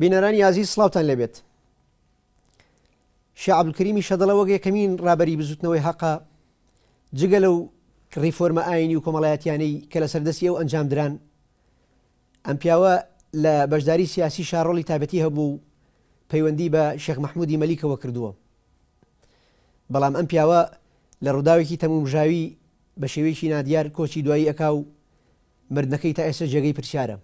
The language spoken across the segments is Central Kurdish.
بینەرانی ئازیز سڵاوتان لێبێت شێخ عەبدولکەریمی شەدەڵە وەک یەکەمین ڕابەری بزووتنەوەی هەقە جگە لەو ڕیفۆرمە ئاینی و کۆمەڵایەتیانەی کە لە سەردەستی ئەو ئەنجام دران ئەم پیاوە لە بەشداری سیاسی شارۆڵی تابەتی هەبوو و پەیوەندی بە شێخ مححمودی مەلیکەوە کردووە بەڵام ئەم پیاوە لە ڕووداوێکی تەمومژاوی بە شێوەیەکی نادیار کۆچی دوایی ئەکا و مردنەکەی تا ئێستا جێگەی پرسیارە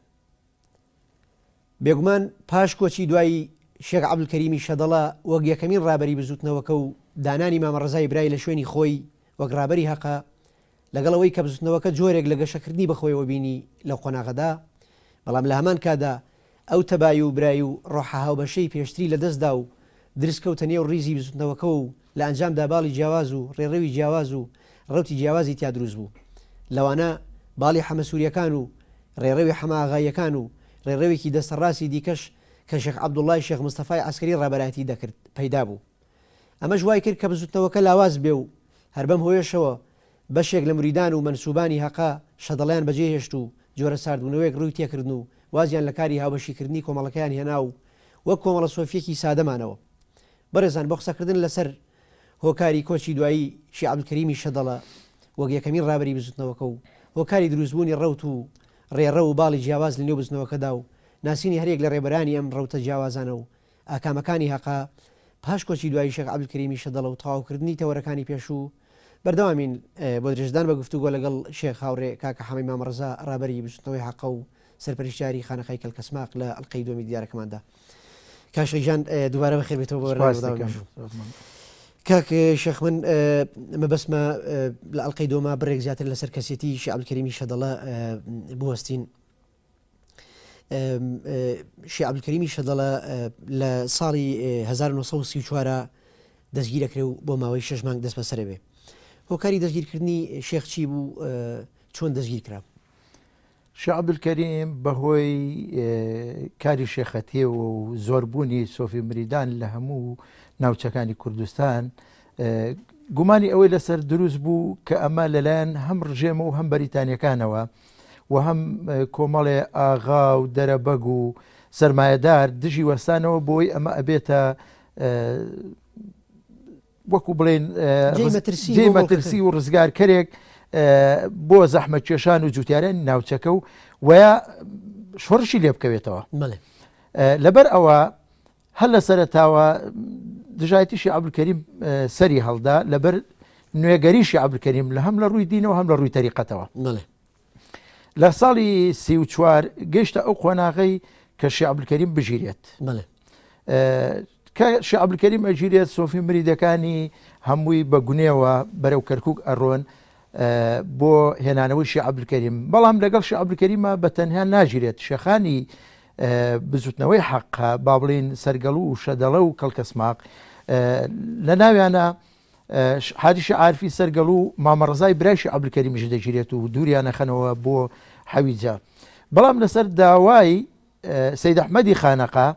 بێگومان پاش کۆچی دوایی شێخ عەبدولکەریمی شەدەڵە وەک یەکەمین ڕابەری بزووتنەوەکە و دانانی مامە ڕەزای برای لە شوێنی خۆی وەک ڕابەری هەقە، لەگەڵ ئەوەی کە بزووتنەوەکە جۆرێک لە گەشەکردنی بەخۆیەوە بینی لەو قۆناغەدا، بەڵام لە هەمان کاتدا ئەو تەبایی و برای و ڕۆحە هاوبەشەی پێشتری لەدەستدا و درز کەوتە نێو ڕیزی بزووتنەوەکەوە و لە ئەنجامدا باڵی جیاواز و ڕێڕەوی جیاواز و ڕەوتی جیاوازی تیا دروست بوو، لەوانە باڵی حەمەسوورییەکان و ڕێڕەوی حەمەئاغاییەکان و ڕێڕەوێکی دەستەڕاستی دیکەش کە شێخ عەبدوڵڵای شێخ مستەفای عەسکەری ڕابەرایەتی دەکرد پەیدا بوو. ئەمەش وای کرد کە بزووتنەوەکە لاواز بێ و هەر بەم هۆیەشەوە بەشێک لە مریدان و مەنسووبانی هەقە شەدڵیان بەجێ هێشت و جۆرە ساردبوونەوەیەک ڕووی تێ کردن و وازیان لە کاری هاوبەشیکردنی کۆمەڵەکەیان هێنا و وەک کۆمەڵە سۆفییەکی سادە مانەوە بەڕێزان بۆ قسەکردن لەسەر هۆکاری کۆچی دوایی شێخ عەبدولکەریمی شەدەڵە وەک یەکەمین ڕابەری بزوتنەوەکە و هۆکاری دروستبوونی ڕەوت و ڕێڕەو و باڵی جیاواز لەنێو بزنەوەکەدا و ناسینی هەریەک لە ڕێبەرانی ئەم ڕەوتە جیاوازانە و ئاکامەکانی هەقە پاش کۆچی دوایی شێخ عەبدولکەریمی شەدەڵە و تەواوکردنی تەوەرەکانی پێشوو بەردەوامین بۆ درێژەدان بە گفتوگۆ لەگەڵ شێخ هاوڕێ کاکە حەمەی مامەڕەزا ڕابەری بزوتنەوەی هەقە و سەرپەرشتیاری خانەقای کەلکەسماق لە ئەڵقەی دووەمی دیدارەکەماندا. کاشە ژان دووارە بە خێبێتەوە بۆ کاک شەخ من مەبەسمە لە ئەلقەی دۆما بڕێک زیاتر لەسەر کەسێتی شعبکەریمی شەدەڵە بوەستین شعبکەریمی شەدەڵە لە ساڵی 1934 دەستگیرەکرێ و بۆ ماوەی شش مانگ دەست بەسەرە بێ هۆکاری دەستگیرکردنی شێخچی بوو چۆن دەستگیر کرا شێخ عبدالکریم بەهۆی کاری شێخەتیەوە و زۆربوونی سۆفی مریدان لە هەموو ناوچەکانی کوردستان گومانی ئەوەی لەسەر دروست بوو کە ئەمە لەلایەن هەم ڕژێمە و هەم بەریتانیەکانەوە و هەم کۆمەڵێ ئاغا و دەرەبەگ و سرمایهدار دژی وەستانەوە بۆی ئەمە ئەبێتە وەکو بڵێن جێی مەترسی و ڕزگارکەرێک بۆ زەحمە کێشان و جوتیارێن ناوچەکە و وە شۆڕشی لێ بکەوێتەوە لەبەر ئەوە هەر لە سەرتاوە دژایتیشی عبلکەریم سەری هەڵدا لەبەر نوێگەریشی عبلکەریم لە هەم لە ڕووی دینەوە هەم لە ڕووی تەریقەتەوە لە ساڵی سی و چوار گەشتە ئەو قۆناغی کە شیعبلکەریم بگیرێت کە شیعبلکەریم ئەگیرێت سۆفی مریدەکانی هەمووی بە گونێەوە بەرەو کەرکک ئەڕۆن بۆ هێنانەوەی شیعبلکەریم بەڵام لەگەڵ شیعبلکەریمە بە تەنها ناگیرێت شەخانی بزوتنەوەی حەقە با بڵین سەرگەڵ و شەدەڵە و کەڵکەسماق لە ناویانە حاجی عارفی سەرگەڵو و مامە ڕەزای برای شێخ عەبدولکەریمیش دەگیرێت و دووریان ئەخەنەوە بۆ حەویجە بەڵام لەسەر داوای سەید ئەحمەدی خانەقا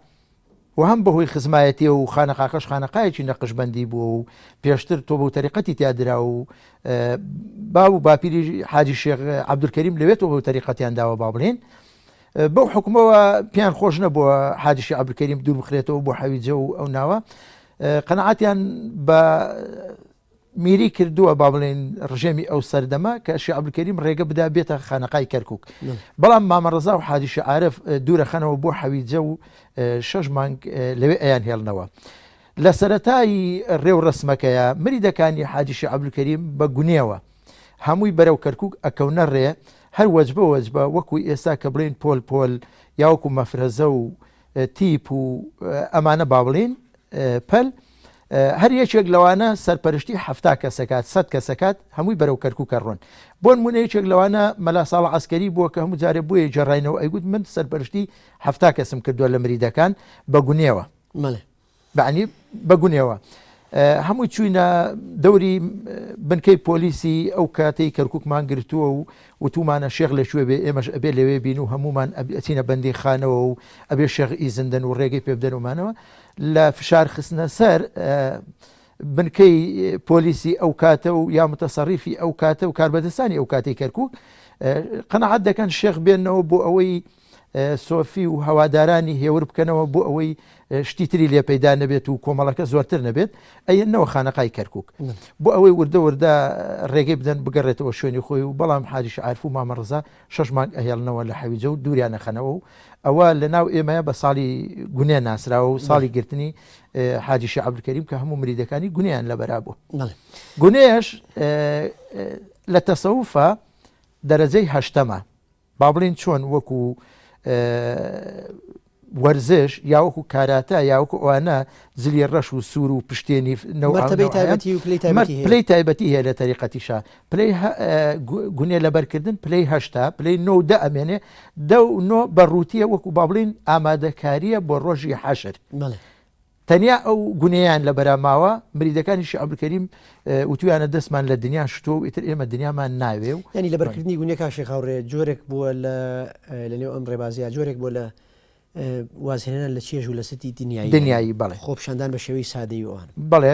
و هەم بەهۆی خزمایەتی و خانەقاکەش خانەقایەکی نەقشبندی بووە و پێشتر تۆ بەو تەریقەتی تیادرا و باو و باپیری حاجی شێخ عەبدولکەریم لەوێتەوە بەو تەریقەتیان داوە با بڵێن بەو حکومەوە پێیان خۆش نەبووە حاجیشی عەبدولکەریم دوور بخرێتەوە بۆ حەویجە و ئەو ناوە قەناعەتیان بە میری کردووە با بڵێن ڕژێمی ئەو سەردەمە کە شعبکەریم ڕێگە بدا بێتە خانەقای کەرکک بەڵام مامەڕزا و حادیشە عاعرف دوورە خەنەوە بۆ حەویجە و شەش مانگ لەوێ ئەیان هێڵنەوە. لە سەتایی ڕێو ڕسمەکەیە مریدەکانی حادیشە عبلکەریم بە گونێەوە هەمووی بەرەو کەرکک ئەکەونە ڕێ هەر وەجبە وەجبە وەکو ئێستا کە بڵێن پۆل پۆل یاوەکو مەفرەزە و تیپ و ئەمانە با بڵێین پەل هەر یەکێک لەوانە سەرپەرشتی هەفتا کەسەکات سەد کەسەکات هەمووی بەرەو کەرکووکە ڕۆن بۆن منە یەکێک لەوانە مەلا ساڵ عسکەری بووە کە هەموو جارێ بۆیە جێڕینەوە ئەیگوت من سەرپەرشتی هەفتا کەسم کردووە لە مریدەکان بە گونێوە مەڵێ بەعنی بە گونێوە هەمووی چوینە دەوری بنکەی پۆلیسی ئەو کاتەی کەرککمان گرتووە و وتومانە شێخ لە کوێ بێ ئێمەش ئەبێ لەوێ بین و هەمومان ئەچینە بەندی خانەوە و ئەبێ شێخ ئیزندن و ڕێگەی پێ بدەنمانەوە لە فشار خستنە سەر بنکەی پۆلیسی ئەو کاتە و یا متەسەریفی ئەو کاتە و کاربەدەستانی ئەو کاتی کەرکک قەنەعات دەکەن شێخ بێنەوە بۆ ئەوەی سۆفی و هەوادارانی هێور بکەنەوە بۆ ئەوەی شتی تری لێ پەیدا نەبێت و کۆمەڵەکە زۆرتر نەبێت ئەەنەوە خانەقای کەرکک بۆ ئەوەی وردە وردە ڕێگەی بدەن بگەڕێتەوە شوێنی خۆی و بەڵام حاریش عرف و مامەڕزا شش مانگ ئەهێڵنەوە لە حەویجە و دووریانە خەنەوە و ئەوە لە ناو ئێمەیە بە ساڵی گونێ ناسراوە و ساڵی گرتنی حاجیشی عبدکەریم کە هەموو مریدەکانی گونیان لە بەرا بوو گونێش لە تەسەوفە دەرەجەی هەشتەمە با بڵێین چۆن وەکو وەرزش یا وەکو کاراتا یا وەکو ئەوانە زلی ڕەش و سوور و پشتێنی پلی تایبەتی هەیە لە تەریقەتیشا پلی گونێ لەبەرکردن پلی هەشتا پلی نۆ دە ئەمێنێ دە نۆ بە ڕووتیە وەکو با بڵین ئامادەکاریە بۆ ڕۆژی حەشر تەنیا ئەو گونێیان لە بەرا ماوە، مریدەکانی شێخ عەبدولکەریم وتویانە دەستمان لە دنیا شتووە و ئیتر ئێمە دنیامان ناوێ و. یانی لەبەرکردنی گونێ کاک شێخ هاوڕێ جۆرێک بووە لە لە نێو ئەم ڕێبازە جۆرێک بووە لە وازهێنان لە چێژ و لە ستی دنیایی. دنیایی بەڵێ. خۆپیشاندان بە شێوەی سادەی و ئەوان. بەڵێ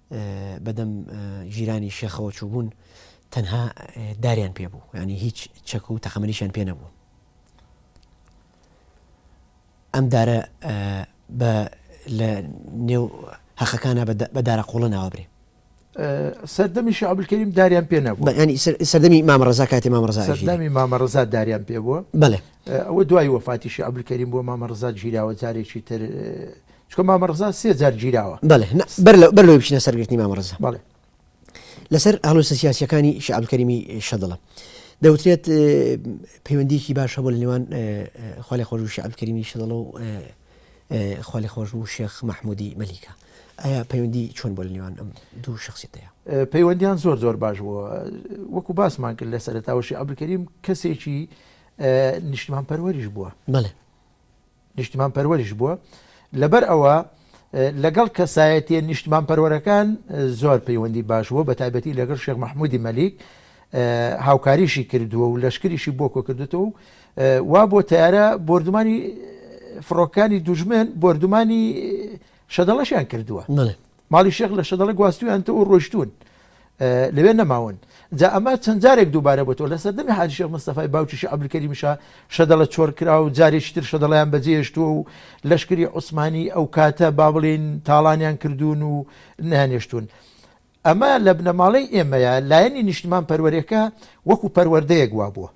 بەدەم ژیرانی شێخەوە چووبوون تەنها داریان پێ بوو ینی هیچ چەک و تەقەمەنیشان پێ نەبوو ئەم دارە بە لە نێو هەقەکانە بە دارە قوڵە ناوابرێ سەردەمی شعبلکەریم داریان پێ نەبوو ینی سەردەمی مامەڕزا کاتی مامەڕزا سەردەمی مامەڕزا داریان پێ بووە بەێ ئەوە دوای وەفاتی شعبلکەریم بۆ مامەڕزا گیراوە جارێکی تر چکە مامە ڕزا سێ جار گیراوە بەڵێ بەر لەوەی بچینە سەر گرتنی مامە ڕزا بەڵێ لەسەر هەڵوسە سیاسەکانی شعبکەریمی شەدڵە دەوترێت پەیوەندیکی باش هەبوو لە نێوان خالی خۆش و شعبکەریمی شەدڵە و خالی خۆش و شێخ مححمودی مەلیکە ئایا پەیوەندی چۆن بۆ لە نێوان ئەم دوو شخصیتەیە پەیوەندیان زۆر زۆر باش بووە وەکو باسمان کرد لە سەرتاوەشی عبلکەریم کەسێکی نیشتمان پەروەریش بووە بڵێ نیشتمانپەروەریش بووە، لەبەر ئەوە لەگەڵ کەسایەتیە نیشتمانپەروەرەکان زۆر پەیوەندی باش بووە، بەتایبەتی لەگەڵ شێخ مەحمودی مەلیک هاوکاریشی کردووە و لەشکریشی بۆ کۆکردوتەوە و وا بۆ تەیارە بۆردومانی فڕۆکەکانی دوژمن بۆردومانی شەدەڵەشیان کردووە. ماڵی شێخ لە شەدەڵە گواستویانتەوەو ڕۆشتوون لەوێ نەماون جا ئەمە چەند جارێک دووبارە بۆتەوە لە سەردەمی حاجی شێخ مستەفای باوکی شێخ عەبدولکەریم شا شەدەڵە چۆڕ کرا و جارێکی تر شەدەڵەیان بەجێ هێشتووە و لەشکری عوسمانی ئەو کاتە با بڵێین تاڵانیان کردوون و نەیانهێشتوون ئەمە لە بنەماڵەی ئێمەیە لایەنی نیشتمان پەروەرێکە وەکو پەروەردەیەک وابووە.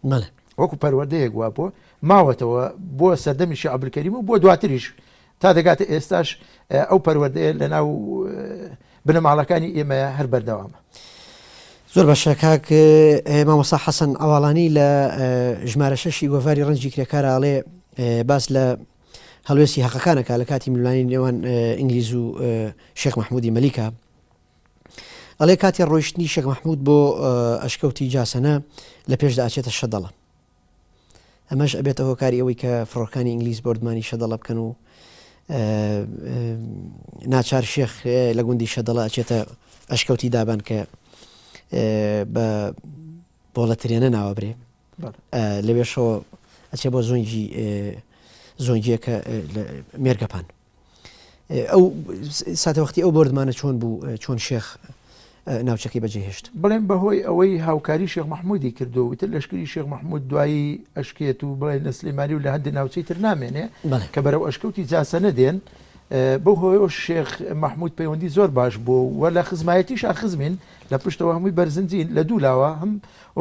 مەلا وەکو پەروەردەیەک وا بۆ ماوەتەوە بۆ سەردەمی شێخ عەبدولکەریم و بۆ دواتریش تا دەگاتە ئێستاش ئەو پەروەردەیە لەناو بنەماڵەکانی ئێمە هەر بەردەوامە. زۆر باشە کاک مامۆسا حەسەن ئەواڵانی لە ژمارە شەشی گۆڤاری ڕەنجی کرێکاراڵێ باس لە هەڵوێستی هەقەکانەکە لە کاتی ملوانی نێوان ئینگلیز و شێخ مححمودی مەلیکە ئەڵێ کاتی ڕۆیشتنی شێخ مەحمود بۆ ئەشکەوتی جاسەنە لە پێشدا ئەچێتە شەدەڵە ئەمەش ئەبێتە هۆکاری ئەوەی کە فڕۆکانی ئینگلیس بردمانی شەدەڵە بکەن و ناچار شێخ لە گوندی شەدەڵە ئەچێتە ئەشکەوتی دابان کە بە بۆڵە ترێنە ناوەبرێ لەوێشەوە ئەچێ بۆ زۆنگی زۆنگیەکە مێرگەپان ئەو ساتەوەختی ئەو بردمانە چۆن بوو چۆن شێخ ناوچەکەی بەجێهێشت بڵێن بەهۆی ئەوەی هاوکاری شێخ مححمودی کردو وتر لەشکری شێخ مححمود دوایی ئەشکێت و بڵێن لە سلێماری و لە هەندی ناوچەی تر نامێنێ کە بەرەو ئەشکەوتی جاسە نەدێن بۆ هۆیۆ شێخ مححمود پەیوەندی زۆر باش بوو و لە خزمایەتی شاخزمین لە پشتەوە هەمووی بەرزنجین لە دوولاوە هەم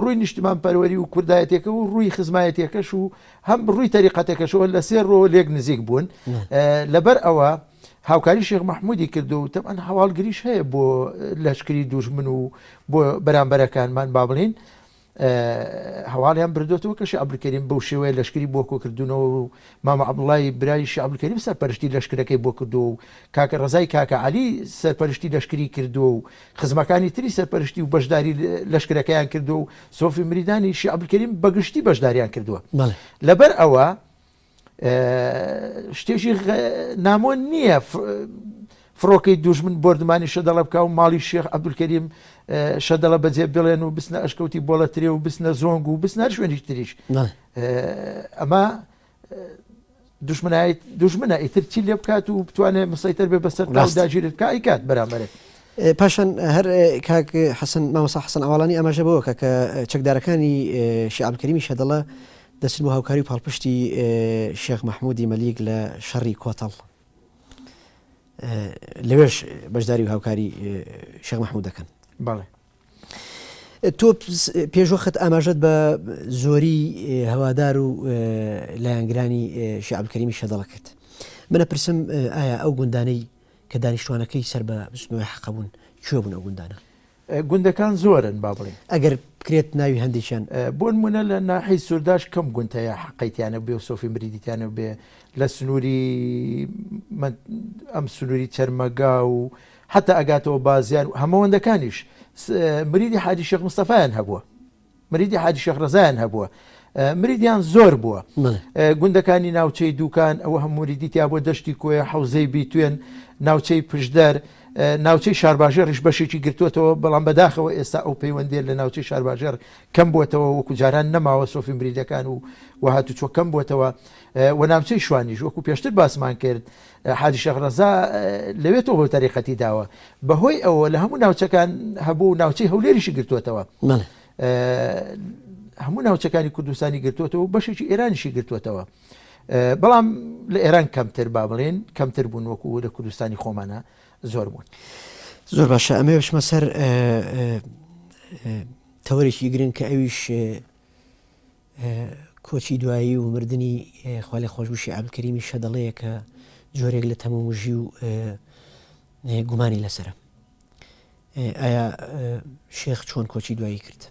ڕووی نیشتمان پەروەری و کوردایەتەکە و ڕووی خزمایەتەکەش و هەم ڕووی تەریقەتەکەشەوە لە سێ ڕووەوە لێک نزیک بوون لەبەر ئەوە هاوکاری شێخ مححمودی کردو و تەمان هەواڵگریش هەیە بۆ لەشکری دوژمن و بۆ بەرامبەرەکانمان با بڵین هەواڵیان بردوێتەوە کە شعبلکەریم بەو شێوەیە لەشکری بۆ کۆکردونەوە و مامە عبڵی برای شعبلکەریم سەرپەرشتی لەشکرەکەی بۆ کردو و کاکە ڕزای کاکە علی سەرپەرشتی لەشکری کردو و خزمەکانی تری سەرپەرشتی و بەشداری لەشکرەکەیان کردووە و سۆفی مریدانی شێخ عەبدولکەریم بە گشتی بەشداریان کردووە. لەبەر ئەوە شتێکی نامۆ نییە فڕۆکەی دوژمن بۆردمانی شەدەڵە بکا و ماڵی شێخ عەبدولکەریم شەدەڵە بەجێ بڵێن و بچنە ئەشکەوتی بۆڵەترێ و بچنە زۆنگ و بچنە هەر شوێنیش تریش ئەمە دوژمنایت دوژمنە ئیتر چی لێ بکات و بتوانێت مسەیتەر بێ بەسەر داگیر بکە ئیکات بەرامبەرێت پاشان هەر کاک حەسن مامەسا حسن ئاواڵانی ئەمەژە بەوە کە کە چەکدارەکانی شعبکەریمی شەدەڵە دەچن بۆ هاوکاری و پاڵپشتی شێخ مححمودی مەلیک لە شەڕی کۆتەڵ لەوێش بەشداری و هاوکاری شەمەحمود دەکەن بەڵێ تۆ پێشوەخت ئاماژەت بە زۆری هەوادار و لایەنگرانی شعبکەریمی شەدەڵە کرد منە پرسم ئایا ئەو گوندانەی کە دانیشتوانەکەی سەر بە بستنەوەی حەقبوون کوێ بوون ئەو گوندانە گوندەکان زۆرن با بڵێ ئەگەر بکرێت ناوی هەندێکیان بۆن منە لە ناحی سوورداش کەم گونتەیە حقیتیانە بێ و سۆفی مریدیتیانە بێ لە سنووری ئەم سنووری چەرمەگا و حەتا ئەگاتەوە بازیار و هەمەوەندەکانیش مریدی حاجی شێخ مستەفایان هەبووە مریدی حاجی شێخ ڕزایان هەبووە مریدیان زۆر بووە گوندەکانی ناوچەی دوکان ئەوە هەموریدی تیا بۆ دەشتی کۆیە حوزەی بیتوێن ناوچەی پشدەر ناوچەی شارباژێ ڕیش بەشێکی گرتوتەوە بەڵام بەداخەوە ئێستا ئەو پەیوەندێت لە ناوچەی شارباژێر کەم بووتەوە وەکو جاران نەماوە سۆفی مریدەکان و وهاتو چۆکەم بووتەوە و ناوچەی شوانیش وەکو پێشتر باسمان کرد حاجی شێخ رەزا لەوێ تۆ بۆ تەریقەتی داوە بەهۆی ئەوە لە هەموو ناوچەکان هەبوو و ناوچەی هەولێریشی گرتووەتەوە هەموو ناوچەکانی کوردستانی گرتووەتەوە و بەشێکی ئێرانیشی گرتووەتەوە بەڵام لە ئێران کەمتر با بڵێن کەمتر بوون وەکو لە کوردستانی خۆمانە زۆر بوون زۆر باشە ئەمێ بشمە سەر تەوەرێکی گرنگ کە ئەویش کۆچی دوایی و مردنی خوا لێ خۆش بشی عەبدولکەریمی شەدەڵەیە کە جۆرێک لە تەمومژی و گومانی لەسرە ئایا شێخ چۆن کۆچی دوایی کرد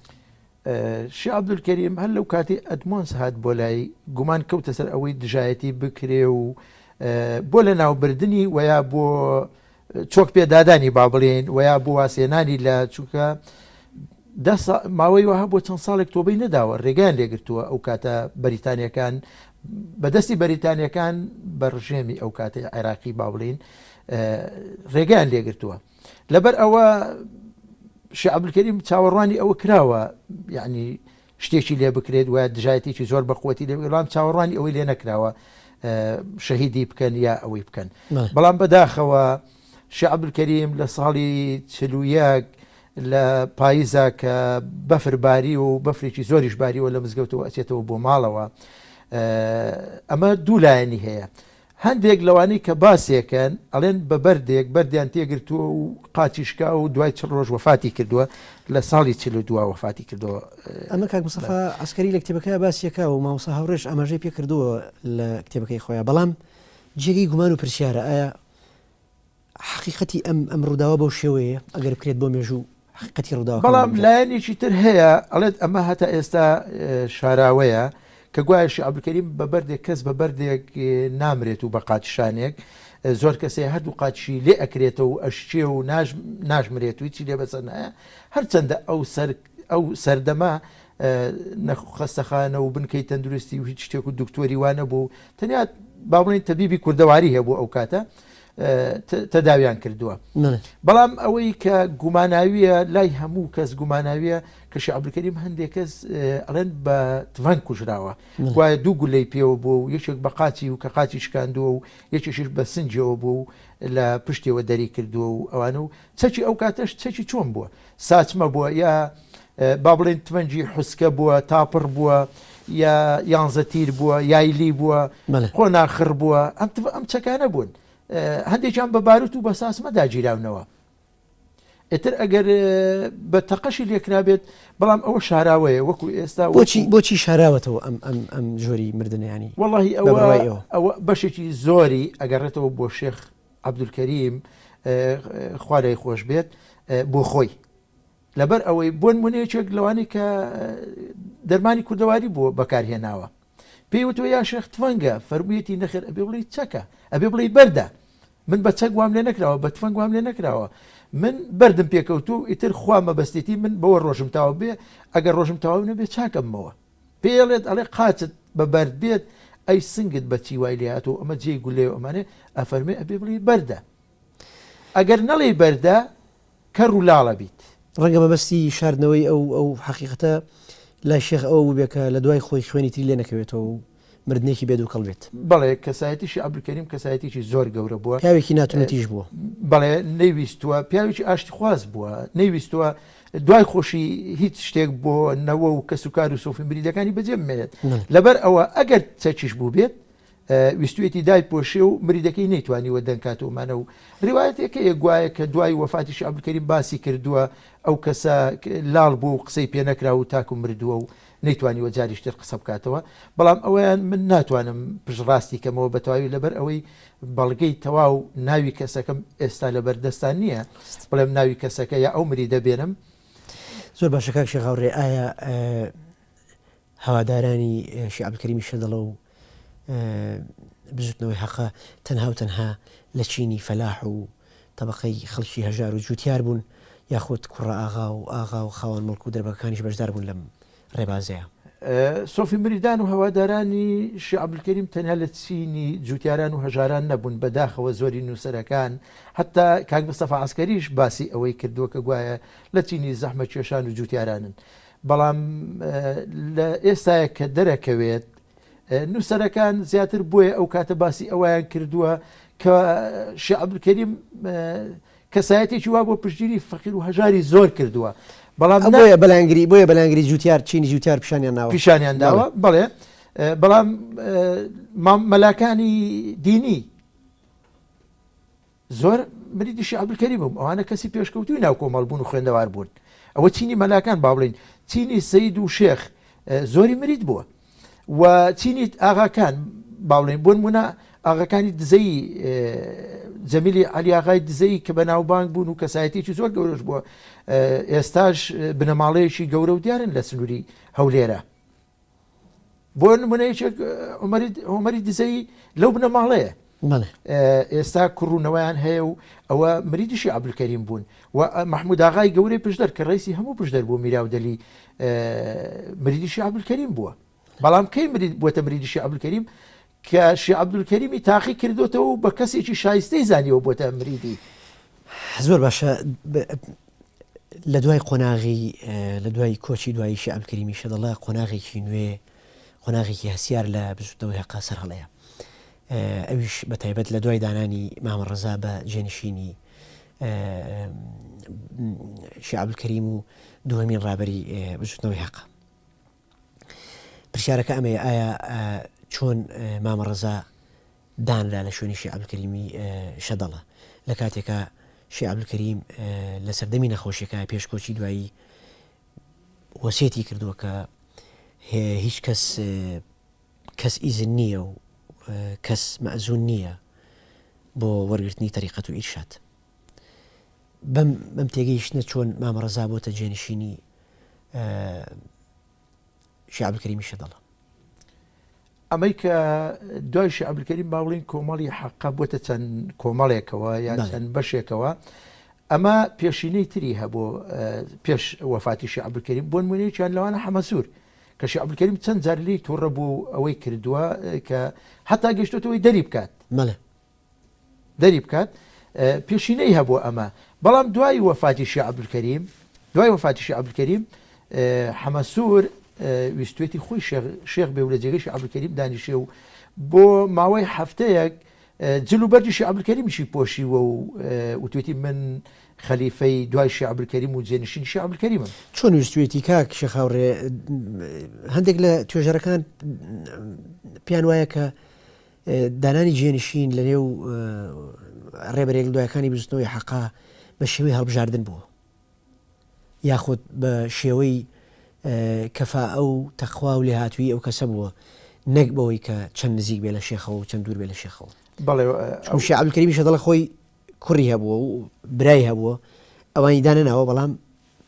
شی عبدولکەریم هەر لەو کاتی ئەدمۆنس هاات بۆ لای گومان کەوتە سەر ئەوەی دژایەتی بکرێ و بۆ لە ناوبردنی وەیا بۆ چۆک پێ دادانی با بڵێین وەیا بۆ واسێنانی لە چووکە دە ماوەی وەها بۆ چەند ساڵێک تۆبەی نەداوە ڕێگەیان لێگرتووە ئەو کاتە بەریتانیەکان بەدەستی بەریتانیەکان بە ڕژێمی ئەو کاتی عێراقی با بڵین ڕێگەیان لێگرتووە لەبەر ئەوە شعبلکەریم چاوەڕوانی ئەوە کراوە یعنی شتێکی لێ بکرێت وە دژایەتێکی زۆر بەقوەتی لێ بڵام چاوەڕوانی ئەوەی لێ نەکراوە شەهیدی بکەن یا ئەوەی بکەن بەڵام بەداخەوە شعبکەریم لە ساڵی چلوویەک لە پاییزا کە بەفرباری و بەفرێکی زۆریش باریەوە لە مزگەوتەوە ئەچێتەوە بۆ ماڵەوە ئەمە دوو لایەنی هەیە هەندێک لەوانەی کە باسیەکەن ئەڵێن بە بەردێک بەردیان تێگرتووە و قاچی شکاوە و دوای چل ڕۆژ وەفاتی کردووە، لە ساڵی چل و دو وەفاتی کردووە. ئەمە کاک مستەفا عەسکەری لە کتێبەکەیا باسیەکا و مامۆستا هاوڕێش ئاماژەی پێکردووە لە کتێبەکەی خۆیا، بەڵام جێگەی گومان و پرسیارە ئایا حەقیقەتی ئەم ئەم ڕووداوە بەو شێوەیە ئەگەر بکرێت بۆ مێژوو حەقیقەتی ڕووداوە بەڵام لایەنێکی تر هەیە ئەڵێت ئەمە هەتا ئێستا شاراوەیە کە گوایە شعبکەریم بە بەردێک کەس بە بەردێک نامرێت و بە قاچشانێک زۆر کەسێ هەردوو قاچشی لێ ئەکرێتەوە و ئەشچێ و ناژمرێت و چی لێ بەسەر نایە هەرچەندە ئەو سەر ئەو سەردەمە نە خەستەخانە و بنکەی تەندروستی و هیچ شتێک و دکتۆری وا نەبوو و تەنیا با بڵێین تەبیبی کوردەواری هەیە بۆ ئەو کاتە تەداویان کردووە بەڵام ئەوەی کە گوماناویە لای هەموو کەس گوماناویە کە شعبلکەریم هەندێک کەس ئەڵێن بە تڤەنگ کوژراوە وایە دوو گولەی پێوە بوو و یەکێک بە قاچی و کە قاچی شکاندووە و یەکێکیش بە سنجەوە بوو و لە پشتێوە دەری کردووە و ئەوانە و چەکی ئەو کاتەش چەکی چۆن بووە؟ ساچمە بووە یا با بڵێن تفەنگی حوسکە بووە، تاپڕ بووە یا یانزە تیر بووە، یایلی بووە، قۆناخڕ بووە، ئەم چەکانە بوون. هەندێکیان بە باروت و بە ساچمە داگیراونەوە. ئیتر ئەگەر بە تەقەشی لێکرابێت، بەڵام ئەوە شاراوەیە وەکو ئێستا. بۆچی بۆچی شاراوەتەوە ئەم جۆری مردنیانی؟ وەڵی ئەوە بەشێکی زۆری ئەگەڕێتەوە بۆ شێخ عەبدولکەریم، خوا لێی خۆش بێت، بۆ خۆی. لەبەر ئەوەی بۆ نموونە یەکێک لەوانەی کە دەرمانی کوردەواری بۆ بەکارهێناوە پێی وتوە یا شێخ تفەنگە فەرموویەتی نەخێر ئەبێ بڵێی چەکە ئەبێ بڵێی بەردە من بە چەک وام لێ نەکراوە بە تفەنگ وام لێ نەکراوە من بردم پێکەوتو ئیتر خوا مەبەستێتی من بەوە ڕۆژم تاو بێ ئەگەر ڕۆژم تاو نەبێ چاکەمەوە پێڵێت ئەڵێ قاچت بە بەرد بێت ئەی سنگت بە چی وای لێهاتوو ئەمە جێی گولەیەو ئەمانێ ئەفەرمێ ئەبێ بڵێی بەردە ئەگەر نەڵێی بەردە کەر و لاڵ ئەبیت. ڕەنگە مەبەستی شاردنەوەی ئەو ئەو حەقیقەتە لای شێخ ئەوە بووبێ کە لە دوای خۆی خوێنی تری لێ نەکەوێتەوە و مردنێکی بێ دوکەڵ بێت. بەڵێ کەسایەتیی عەبدولکەریم کەسایەتییەکی زۆر گەورە بووە. پیاوێکی ناتونەتیش بووە. بەڵێ نەیویستووە، پیاوێکی ئاشتیخواز بووە، نەیویستووە دوای خۆشی هیچ شتێک بۆ نەوە و کەسوکار و سۆفی مریدەکانی بەجێ بمێنێت. لەبەر ئەوە ئەگەر چەکیش بووبێت، ویستوویەتی دایپۆشێ و مریدەکەی نەیتوانیوە دەنگکاتەوە مانە و ڕیوایەتێک هەیە گوایە کە دوای وەفاتیشی عەبدولکەریم باسی کردووە ئەو کەسە لاڵ بووە و قسەی پێ نەکراوە و تاکو مردووە و نەیتوانیوە جاریش تر قسە بکاتەوە، بەڵام ئەوەیان من ناتوانم پشتڕاستی کەمەوە بە تەواوی لەبەر ئەوەی بەڵگەی تەواو ناوی کەسەکەم ئێستا لەبەر دەستان نییە بڵێم ناوی کەسەکە یا ئەو مری دەبێنم. زۆر باشە کاک شێخ هاوڕێ ئایا هەوادارانی شێخ عەبدولکەریمی شەدەڵە و بزوتنەوەی هەقە تەنها و تەنها لە چینی فەلاح و تەبەقەی خەڵکی هەژار و جوتیار بوون یاخود کوڕە ئاغا و ئاغا و خاوەن موڵک و دەربەگەکانیش بەشدار بوون لەم ڕێبازەیە. سۆفی مریدان و هەوادارانی شێخ عەبدولکەریم تەنیا لە چینی جوتیاران و هەژاران نەبوون، بە داخەوە زۆرین نووسەرەکان هەتا کاک مستەفا عەسکەریش باسی ئەوەی کردووە کە گوایە لە چینی زەحمەتکێشان و جوتیارانن. بەڵام لە ئێستایە کە دەرەکەوێت، نووسەرەکان زیاتر بۆیە ئەو کاتە باسی ئەوەیان کردووە کە شێخ عەبدولکەریم کەسایەتێکی وا بۆ پشتگیری فەقیر و هەژاری زۆر کردووە، بەڵام ئەم بۆیە بەلایەنگری بۆیە بەلایەنگری جووتیار چینی جووتیار پیشانیان ناوە. پیشانیان داوە، بەڵێ، بەڵام مەلاکانی دینی. زۆر مریدی شێخ عەبدولکەریم بووم، ئەوانە کەسی پێشکەوتووی ناو کۆمەڵ بوون و خوێندەوار بوون. ئەوە چینی مەلاکان با بڵێین چینی سەید و شێخ زۆری مرید بووە و چینی ئاغاکان با بڵێین بۆ نموونە ئاغاکانی دزەیی جەمیلی عەلیاغای دزەیی کە بەناوبانگ بوون و کەسایەتێکی زۆر گەورەش بووە ئێستاش بنەماڵەیەکی گەورە و دیارن لە سنووری هەولێرە. بۆ نمونە یەکێک هۆمەری دزەی لەو بنەماڵەیە ئێستا کوڕوونەوەیان هەیە و ئەوە مریدیشی عبلکەریم بوون و مححموداغای گەورەی پشدەر کە ڕیسی هەموو پشدەر بۆ میراودەلی مریدیشی عبلکەریم بووە بەڵام کەی مرید بووە مریدیشی عبلکەریم کە شێخ عەبدولکەریمی تاقی کردوێتەوە و بە کەسێکی شایستەی زانیەوە بۆتە مریدی زۆر باشە لە دوای قۆناغی لە دوای کۆچی دوایی شعب کریمی شەدەڵە قۆناغێکی نوێ قۆناغێکی هەسیار لە بزوتنەوەی هەقا سەر هەڵەیە ئەویش بە تایبەت لە دوای دانانی مامە ڕزا بە جێنشینی شعب کەریم و دوهمین ڕابری بزوتنەوەی هەقا پرسیارەکە ئەمەیە ئایا چۆن مامە ڕەزا دانرا لە شوێنی شی عبدکەریمی شەدەڵە لە کاتێکا شی عبدکەریم لە سەردەمی نەخۆشیەکە پێشکۆچی دوایی وەسێتی کردووە کە هیچ کەس کەس ئیزن نییە و کەس مەزون نییە بۆ وەرگرتنی تەریقەت و ئیرشاد بەم تێگەیشتنە چۆن مامە ڕەزا بۆتە جێنشینی شێخ عەبدولکەریمی شەدەڵە؟ ئەمەی کە دوای شێخ عەبدولکەریم با بڵێین کۆمەڵی حەقە بۆتە چەند کۆمەڵێکەوە یان چەند بەشێکەوە ئەمە پێشینەی تری هەبوو پێش وەفاتی شێخ عەبدولکەریم بۆ نمونەیەکیان لەوانە حەمەسوور کە شێخ عەبدولکەریم چەند جار لێی تووڕە بوو ئەوەی کردووە کە هەتا گەشتوتەوەی دەری بکات مەڵێ دەری بکات پێشینەی هەبوو ئەمە بەڵام دوای وەفاتی شێخ عەبدولکەریم دوای وەفاتی شێخ عەبدولکەریم حەمەسوور ویستێتی خۆی شێخ بێ و لە جێگەی شێخ عەبدولکەریم دانیشێ و بۆ ماوەی هەفتەیەک جل و بەرجی شێخ عەبدولکەریمیشی پۆشیوە و وتێتی من خەلیفەی دوای شێخ عەبدولکەریم و جێنشینی شێخ عەبدولکەریمم چۆن ویستێتی کاک شێخ هاوڕێ هەندێک لە توێژەرەکان پێیان وایە کە دانانی جێنشین لەنێو ڕێبەرێک لەدوایەکانی بزوتنەوەی حەقە بە شێوەی هەڵبژاردن بووە یاخود بە شێوەی کەفا ئەو تەخوا و لێهاتووی ئەو کەسە بووە نەک بەوەی کە چەند نزیک بێ لە شێخەوە و چەند دوور بێ لە شێخەوە بەڵێ ئەو شعبکەری میشە دەڵە خۆی کوڕی هەبووە و برای هەبووە ئەوانی دانەناوە بەڵام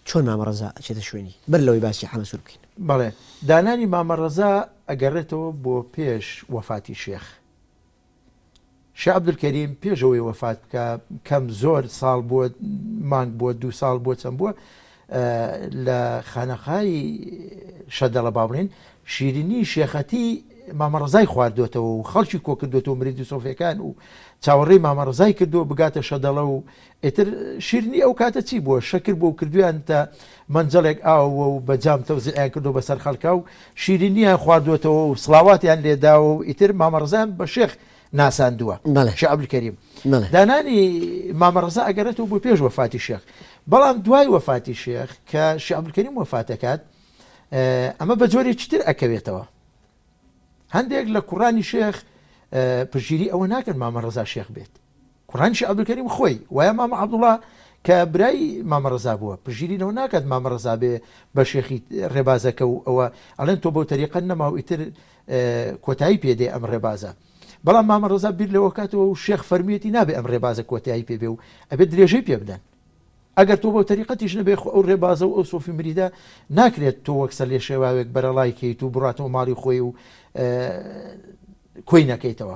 چۆن مامە ڕەزا ئەچێتە شوێنی؟ بەر لەوەی باسی حەمە سوور بکەین. بەڵێ دانانی مامە ڕەزا ئەگەڕێتەوە بۆ پێش وەفاتی شێخ. شێخ عەبدولکەریم پێش ئەوەی وەفات بکا کەم زۆر ساڵ بووە مانگ بووە دوو ساڵ بووە چەند بووە لە خانەقای شەدەڵە با بڵێین شیرینی شێخەتی مامە ڕزای خواردوێتەوە و خەڵکی کۆکردوێتەوە مریدی سۆفیەکان و چاوەڕێی مامە ڕزای کردووە بگاتە شەدەڵە و ئیتر شیرنی ئەو کاتە چی بووە، شەکر بووە و کردوویانتە مەنجەڵێک ئاو و بە جام تەوزیعیان کردووە بەسەر خەڵکا و شیرینییان خواردووەتەوە و سڵاواتیان لێ داوە و ئیتر مامە ڕەزایان بە شێخ ناساندووە. شێخ عەبدولکەریم دانانی مامە ڕەزا ئەگەڕێتەوە بۆ پێش وەفاتی شێخ، بەڵام دوای وەفاتی شێخ کە شێخ عەبدولکەریم وەفات دەکات ئەمە بە جۆرێکی تر ئەکەوێتەوە. هەندێک لە کوڕانی شێخ پشتگیری ئەوە ناکەن مامە ڕەزا شێخ بێت. کوڕانی شێخ عەبدولکەریم خۆی وایە مامە عەبدوڵا کە برای مامە ڕەزا بووە پشگیری لەوە ناکات مامە ڕەزا بێ بە شێخی ڕێبازەکە و ئەوە ئەڵێن تۆ بەو تەریقەت نەماو ئیتر کۆتایی پێ دێ ئەم ڕێبازە بەڵام مامە ڕەزا بیر لەوە کاتەوە و شێخ فەرمیەتی نابێ ئەم ڕێبازە کۆتایی پێ بێ و ئەبێ درێژەی پێ بدەن ئەگەر تۆ بەو تەریقەتیش نەبێ خۆ ئەو ڕێبازە و ئەو سۆفی مریدە ناکرێت تۆ وەک سەر لێ شێواوێک بەرەڵای کەیت و بڕاتەوە ماڵی خۆی و کۆی نەکەیتەوە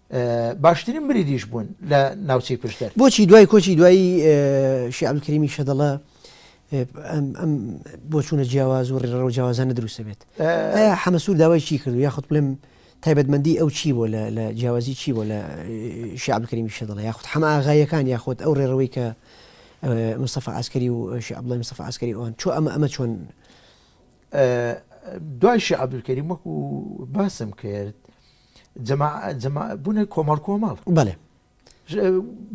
باشترین بریدیش بوون لە ناوچەی پشدەر. بۆچی دوای کۆچی دوایی شێخ عەبدولکەریمی شەدەڵە ئەم بۆچوونە جیاواز و ڕێڕەو جیاوازانە دروستە بێت؟ ئایا حەمە سوور داوای چی کردو یاخود بڵێم تایبەتمەندی ئەو چی بووە لە جیاوازی چی بووە لە شێخ عەبدولکەریمی شەدەڵە یاخود حەمە ئاغاییەکان یاخود ئەو ڕێڕەوەی کە مستەفا عەسکەری و شێخ عەبدوڵڵای مستەفا عەسکەری ئەوان چۆن ئەمە ئەمە چۆن دوای شێخ عەبدولکەریم وەکو باسم کرد بوونە کۆمەڵ کۆمەڵ بەێ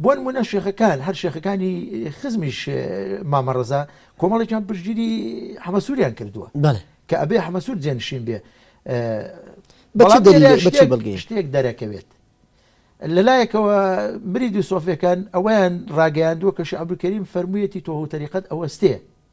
بۆن منە شێخەکان هەر شێخەکانی خزمیش مامەڕەزا کۆمەڵێکیان پشگیری حەمەسووریان کردووە کە ئەبێ حەمەسوور جێنشین بێ بەڵگەی شتێک دەرەکەوێت لەلایەکەوە مری دو سۆفەکان ئەویان ڕاگەیاندووە کە شعبکەریم فەرموویەتی تۆ و تەریقەت ئەوەستێ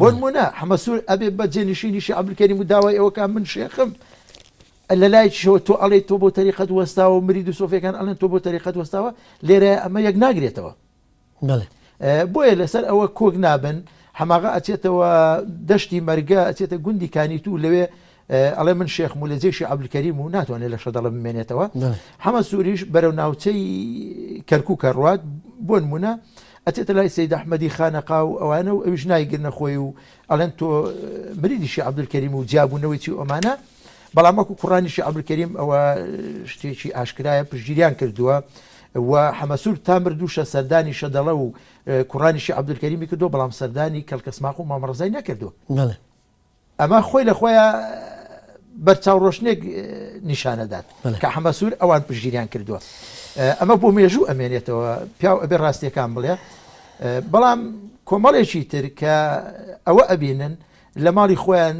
بۆنمونە حەمەسور ئەبێ بە جێنشینی شێخ عەبدولکەریم و داوای ئەوە کە من شێخم لە لایەکیشەوە تۆ ئەڵێ تۆ بۆ تەریقەت وەستاوە مرید و سۆفیەکان ئەڵێن تۆ بۆ تەریقەت وەستاوە لێرە ئەمە یەک ناگرێتەوە بۆیە لەسەر ئەوە کۆک نابن حەماغا ئەچێتەوە دەشتی مەرگە ئەچێتە گوندی کانیت و لەوێ ئەڵێ من شێخم و لە جێشی عەبدولکەریم و ناتوانێت لە شەدەڵە بمێنێتەوە حەمە سووریش بەرەو ناوچەی کەرکووکە ڕوات بۆ نمونە ئەچێتە لای سید ئەحمەدی خانەقا و ئەوانە و ئەویش نایگرنە خۆی و ئەڵێن تۆ مریدیشی عەبدولکەریم و جیابوونەوەی چی ئۆمانە بەڵام وەکو کوڕانیشی عەبدولکەریم ئەوە شتێکی ئاشکرایە پشگیریان کردووە و حەمەسوور تا مردووشە سەردانی شەدەڵە و کوڕانیشی عەبدولکەریمی کردو بەڵام سەردانی کەلکەسماق و مامەڕزای نەکردووە ئەمە خۆی لە خۆیا بەر چاوڕۆشنێک نیشان ئەدات کە حەمە سوور ئەوان پشگیریان کردووە ئەمە بۆ مێژوو ئەمێنێتەوە پیاو ئەبێ ڕاستیەکان بڵێ بەڵام کۆمەڵێکی تر کە ئەوە ئەبینن لە ماڵی خۆیان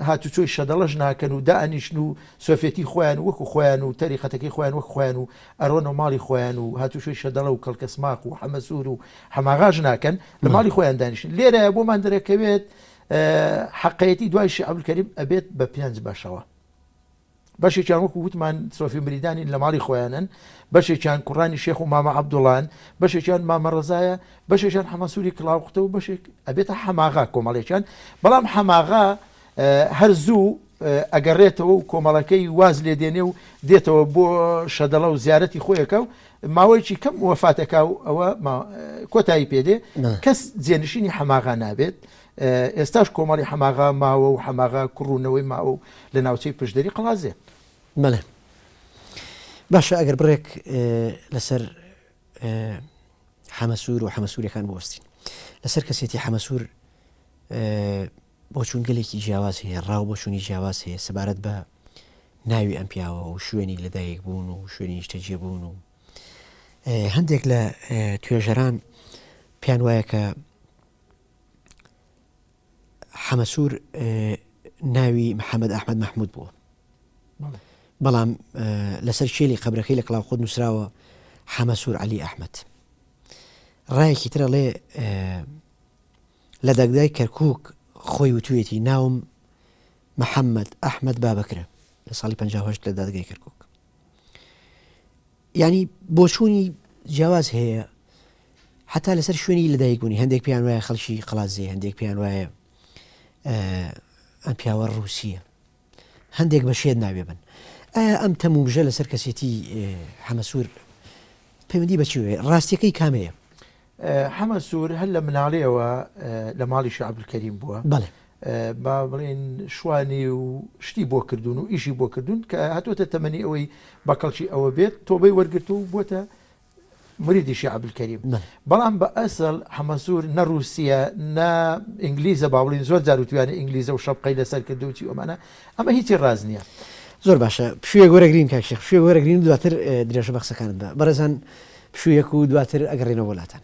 هاتوچۆی شەدەڵەش ناکەن و دانیشن و سۆفێتی خۆیان وەکو خۆیان و تەریقەتەکەی خۆیان وەک خۆیان و ئەرۆن و ماڵی خۆیان و هاتوچۆی شەدەڵە و کەڵکەسماق و حەمەسوور و حەماغاش ناکەن لە ماڵی خۆیان دانیشن لێرە بۆمان دەرەکەوێت حەقەیەتی دوای شێخ عەبدولکەریم ئەبێت بە پێنج بەشەوە بەشێکیان وەکو وتمان سۆفی مریدانی لە ماڵی خۆیانن بەشێکیان کوڕانی شێخ و مامە عەبدوڵان بەشێکیان مامە ڕزایە بەشێکیان حەمەسووری کلااوقتە و بەشێک ئەبێتە حەماغا کۆمەڵێکیان بەڵام حەماغا هەر زوو ئەگەڕێتەوە و کۆمەڵەکەی واز لێ دێنێ و دێتەوە بۆ شەدەڵە و زیارەتی خۆیەکە و ماوەیەکی کەم وەفات ئەکا و ئەوە کۆتایی پێ دێ کەس جێنشینی حەماغا نابێت ئێستاش کۆمەڵی حەماغا ماوە و حەماغا کوڕوونەوەی ماوە و لە ناوچەی پشدەری قڵازێ بەڵێ باشە ئەگەر بڕێک لەسەر حەمەسوور و حەمەسوورەکان بۆستین لەسەر کەسێتی حەمەسوور بۆچوون گەلێکی جیاواز هەیە ڕاو بۆچوونی جیاواز هەیە سەبارەت بە ناوی ئەم پیاوە و شوێنی لەدایک بوون و شوێنی نیشتەجێ بوون و هەندێک لە توێژەران پێیان وایە کە حەمەسوور ناوی محەممەد ئەحمد مححمود بووە بەڵام لەسەر شێلی قبرەکەی لە کلااو خود نووسراوە حەمەسوور علی ئەحمد ڕایەکی ترە ڵێ لە دەگدای کەرکک خۆی وتوێتی ناوم محەمەد ئەحمەد بابەکرە لە ساڵی پەنجا و هەشت لە دادگای کەرکوک یعنی بۆچوونی جیاواز هەیە حتا لەسەر شوێنی لەدایک بوونی هەندێک پێیان وایە خەڵکی قلازیە هەندێک پێیان وایە ئەم پیاوە رووسە هەندێک بە شێت ناوێ بن ئایا ئەم تەموژە لەسەر کەسێتی حەمەسوور پەیوەندی بەچوێ ڕاستیەکەی کامەیە حەمە سوور هەر لە مناڵیەوە لە ماڵی شا عەبدولکەریم بووە با بڵێن شوانی و شتی بۆ کردوون و ئیشی بۆ کردوون کە هاتوۆتە تەمەنی ئەوەی بە کەڵکی ئەوە بێت تۆبەی وەرگرت و بووە مریدی شی عبدکەریم بەڵام بە ئەسڵ حەمەسوور نە رووسە نە ئینگلیزە باڵین زۆر جاروتویانە ئینگلیزە و شەپقەی لەسەر کردوچی ئەمانە ئەمە هیچی ڕاست نیە. زۆر باشە پشویەک وەرەگرین کاک شێخ پشویەک وەرەگرین و دواتر درێژە بە قسەکانت بە بەڕێزان پشویەک و دواتر ئەگەڕێینەوە بۆ لاتان.